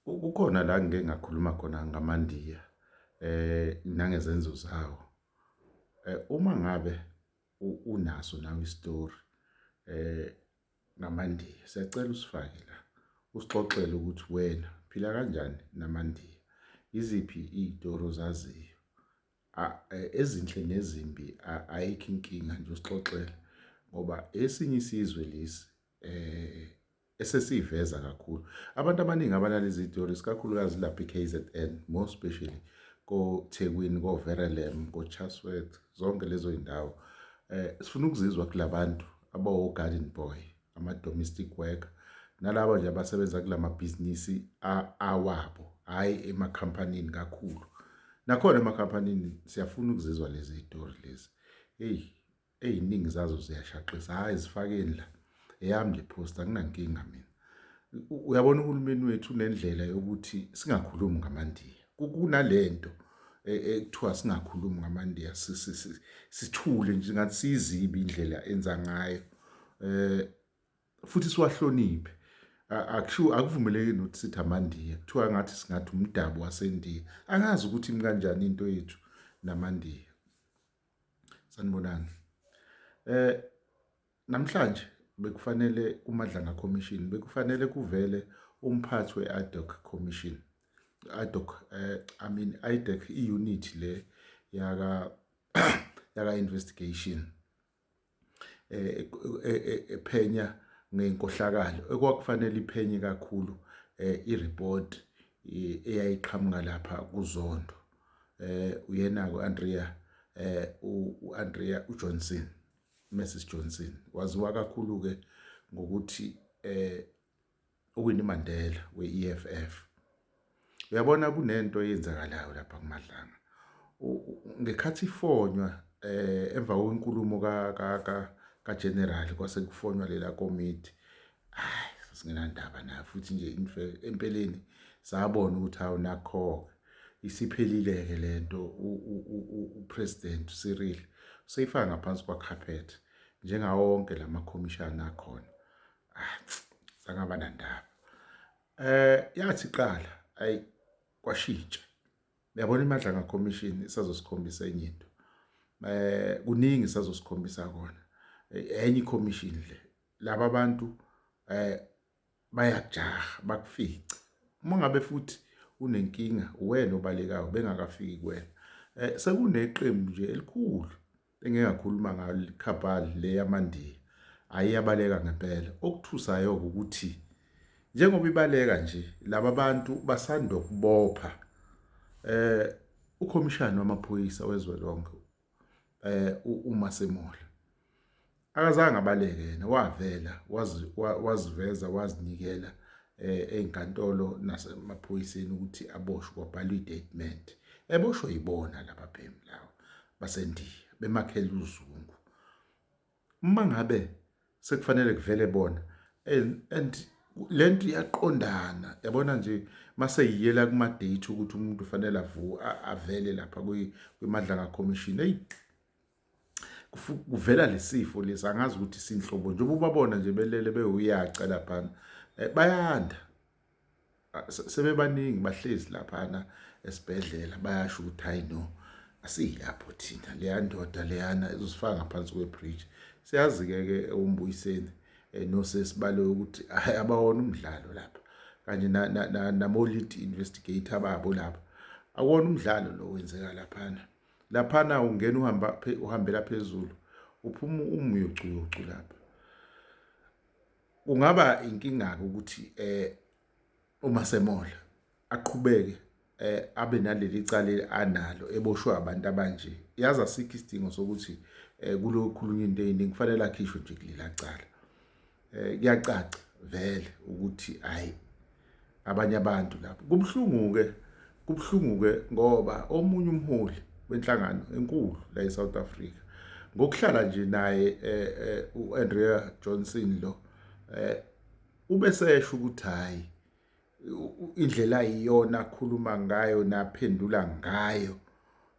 Kukhona la ngike ngakhuluma khona ngamaNdiya eh nangezenzo zawo. Eh, uma ngabe unaso nawe isitori eh ngamaNdiya siyacela usifake la usixoxele ukuthi wena phila kanjani namaNdiya iziphi iy'tori ozaziyo eh, ezinhle nezimbi ayikho inkinga nje usixoxele ngoba esinye isizwe lesi eh esesiveza kakhulu abantu abaningi abalala izitori sikakhulukazi lapha iKZN more especially koThekwini koVerelem koChatsworth zonke lezo indawo eh sifuna ukuzizwa kulabantu abawo garden boy ama domestic worker nalabo nje abasebenza kulamabhizinisi awabo hayi emakhampanini kakhulu nakhona emakhampanini siyafuna ukuzizwa lezi zitori lezi hey eziningi zazo ziyashaqisa hayi zifakeni la eyami le post anginankinga mina uyabona uhulumeni wethu unendlela yokuthi singakhulumi ngamandiya kunalento e, ekuthiwa singakhulumi ngamandiya sithule nje ngathi siyizibi indlela enza ngayo eh futhi siwahloniphe akusho akuvumeleki nokuthi sithi amandiya kuthiwa ngathi singathi umdabu wasendiya angazi ukuthi imkanjani into yethu namandiya Sanibonani. Eh namhlanje bekufanele kuMadlanga Commission bekufanele kuvele umphathi we-IDOC Commission. IDOC eh I mean IDOC i-unit le yaka yaka investigation. ephenya ngenkohlakalo ekwakufanele iphenye kakhulu i-report eyayiqhamuka lapha kuzondo eh uyena uAndrea eh uAndrea uJohnson Mrs Johnson waziwa kakhulu ke ngokuthi eh uWinnie Mandela we-EFF uyabona kunento eyenzakalayo lapha kuMadlanga ngekhathi ifonywa eh emva kwenkulumo ka ka ka ka general kwase kufonywa lela komiti hayi singenandaba nayo futhi nje empeleni sabona ukuthi hawu nakho isiphelile ke lento upresident Cyril seyifaka ngaphansi kwacarpet njengawo wonke lamakhomishana akhona ah, sangaba nandaba eh yathi qala ayi kwashintsha uyabona imandla nga commission isazosikhombisa enye into eh kuningi sazosikhombisa kona eh, enye commission le laba bantu eh bayajaha bakufica uma ngabe futhi unenkinga uwena obalekayo bengakafiki kuwena eh sekuneqembu nje elikhulu Engingakhuluma ngayo le cabal le yamandiya ayiyabaleka ngempela. Okuthusayo ukuthi njengoba ibaleka nje laba bantu basanda kubopha eh ukhomishana wamaphoyisa wezwe lonke eh uMasemola akazange abaleke yena wavela waziveza wazinikela eh, ezinkantolo nasemaphoyiseni ukuthi aboshwe kwabhalwa i-statement eboshwe yibona laba bhemu lawo basendiya bemakhela uzungu uma ngabe sekufanele kuvele bona and lento iyaqondana yabona nje mase yiyela kuma date ukuthi umuntu ufanele avu avele lapha kwi madlanga commission hey kuvela lesifo lesi angazi ukuthi sinhlobo njengoba ubabona nje belele bewuyaca laphana eh, bayanda ah, sebebaningi bahlezi laphana esibhedlela bayasho ukuthi hayi no asiyilapho thina leya ndoda leyana izosifaka ngaphansi kwebridge siyazi-ke ke umbuyiseni eh, nosesi bale ukuthi abawona umdlalo lapha kanye namolit investigator babo lapha akuwona umdlalo lo wenzeka laphana laphana ungena uhamba uhambela phezulu uphuma umyocu yocu lapha kungaba inkinga ke ukuthi eh uma semola aqhubeke eh abe naleli cala analo eboshwe abantu abanje yazi asikho isidingo sokuthi eh kulokhulunywa into eyiningi kufanele akhishwe nje kulela cala eh kuyacaca vele ukuthi hayi abanye abantu lapho kubuhlungu ke kubuhlungu ke ngoba omunye umholi wenhlangano enkulu la eSouth Africa ngokuhlala nje naye eh, eh, uAndrea Johnson lo eh, ubesesho ukuthi hayi indlela iyona akhuluma ngayo naphendula ngayo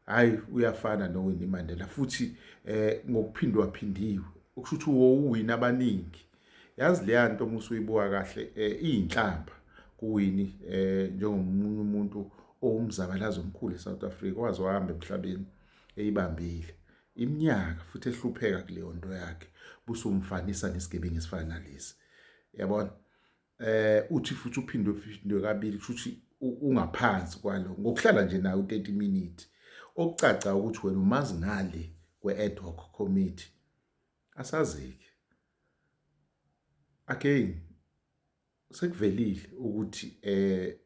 hayi uyafana noWinnie Mandela futhi eh ngokuphindwa phindiwe ukusho ukuthi wowina abaningi yazi leya nto uma usuyibuka kahle eh, iyinhlamba kuwini eh njengomunye umuntu owumzabalazo omkhulu eSouth Africa waze wahamba emhlabeni eyibambile iminyaka futhi ehlupheka kuleyo nto yakhe busumfanisa nesigebengu esifana nalesi yabona eh uthi futhi uphindwe phindwe kabili kushuthi ungaphansi kwalo ngokuhlala nje nayo 30 minutes okucaca ukuthi wena umazi ngale kwe ad hoc committee asazike again sekuvelile ukuthi eh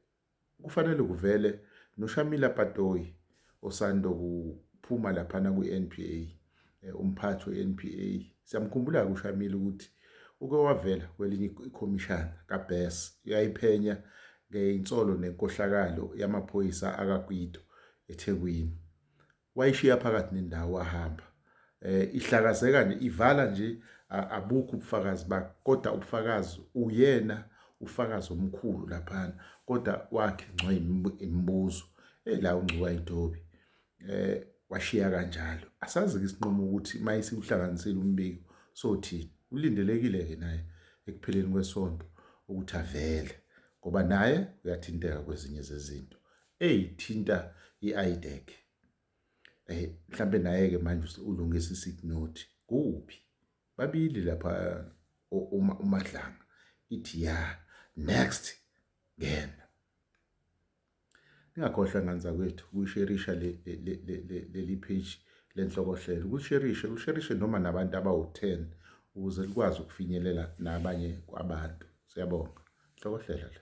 Kufanele kuvele noShamila Patoyi osando kuphuma laphana kwiNPA eh, umphathi weNPA siyamkhumbula ke uShamila ukuthi uke wavela kwelinye ikhomishana kaBess uyayiphenya ngeinsolo nenkohlakalo yamaphoyisa akaGwido eThekwini wayishiya phakathi nendawo wahamba eh ihlakazeka nje ivala nje abukho ubufakazi bakhe kodwa ubufakazi uyena ufakazi omkhulu laphana kodwa wakhe ngcwa imibuzo ela ungcuka intobi eh washiya kanjalo asazi ke isinqumo ukuthi mayisi uhlanganisile umbiko sothini ulindelekile ke naye ekupheleni kwesonto ukuthi avele ngoba naye uyathinteka kwezinye zezinto eyithinta i-IDEC. Eh mhlambe naye ke manje ulungisa isick note kuphi? Babili lapha uma umadlanga ithi ya next ngena. Ningakhohlwa ngane zakwethu kusherisha leli page lenhlokohlelo ukusherishe usherishe noma nabantu abawu-10 ukuze likwazi ukufinyelela nabanye kwabantu siyabonga hlokohlela la